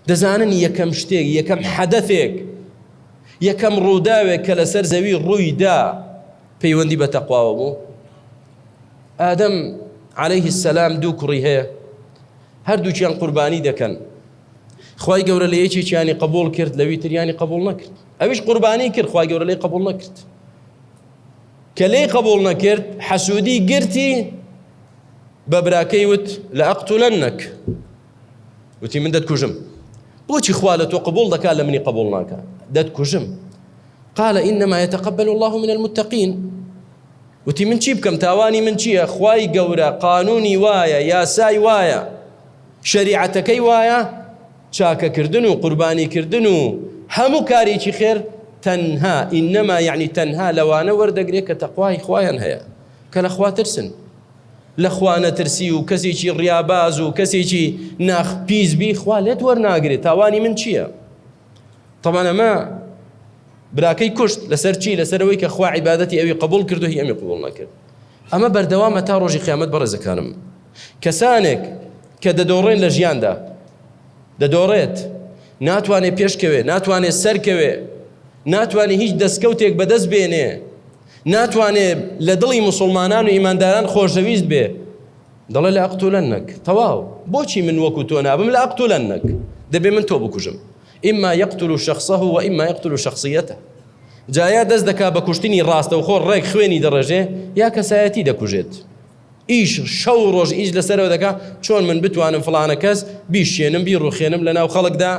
دەزانن یەکەم شتێک، یەکەم حەدەثێک، یەکەم ڕووداوێک کە لەسەر زەوی ڕووی دا پەیوەندی بە تەقواوە بوو. ئادەم عەلەیه سەلام دوو کوڕی هەیە، هەردووکیان قوربانی دەکەن. خوای گەورە لە یەکێکیانی قبول کرد لەوی تریانی قبول نەکرد. ئەویش قوربانی کرد خوای گەورە لەی قبول نەکرد. کە لێی قبول نەکرد حەسوودی گرتی بە براکەی وت لە ئەقتولەنەک وتی من دەتکوژم بۆچی خوا لە تۆ قبول دەکات لە منی قبول ناکە دەتکوژم قال إنما يتقبل الله من المتقين وتی من چی بکەم تاوانی من چییە خوای گەورە قانونی وایە یاسای وایە شریعەتەکەی وایە چاکەکردن و قوربانیکردن و هەموو کارێکی خێر تەنها ئینەما یعنی تەنها لەوانە وەردەگرێت کە تەخوای خوایان هەیە کە لە خواترسن لە خوا نەترسی و کەسێکی ڕیاباز و کەسێکی ناخ پیس بی خوا لێت وەرناگرێت تاوانی من چییە؟ طبعا ئەمە براکەی کوشت لەسەر چی لەسەرەوەی کە خوا عیبادەتی ئەوی قبول کرد و هی ئەمی قبول نەکرد ئەمە بەردەوامە تا ڕۆژی قیامەت بەڕێزەکانم کەسانێک کە دەدۆڕێن لە ژیاندا دەدۆڕێت ناتوانێت پێشکەوێ ناتوانێت سەرکەوێ ناتوانێت هیچ دەستکەوتێک بەدەست بێنێ ناتوانێ لە دڵی موسوڵمانان و ئیمانداران خۆشەویست بێ دەڵێ لە ئەقتولەنەک تەواو بۆچی من وەکو تۆ نابم لە ئەقتولەنەک دەبێ من تۆ بکوژم ئیما یەقتل و شخصه و ئیما یەقتل و شخصیەتە جایا دەست دەکا بە کوشتنی ڕاستە و خۆ ڕێک خوێنی دەڕێژێ یا کەسایەتی دەکوژێت ئیش شەو ڕۆژ ئیش لەسەرەوە دەکا چۆن من بتوانم فلانە کەس بیشێنم بی ڕوخێنم لە ناو خەڵکدا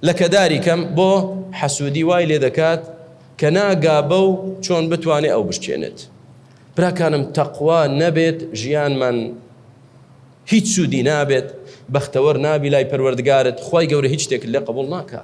لە کەداری کەم بۆ حەسوودی وای لێ دەکات کە ناگا بەو چۆن بتوانێ ئەو بشکێنێت براکانم تەقوا نەبێت ژیانمان هیچ سوودی نابێت بەختەوەر نابی لای پەروەردگارت خوای گەورە هیچ شتێکت لێ قبول ناکا.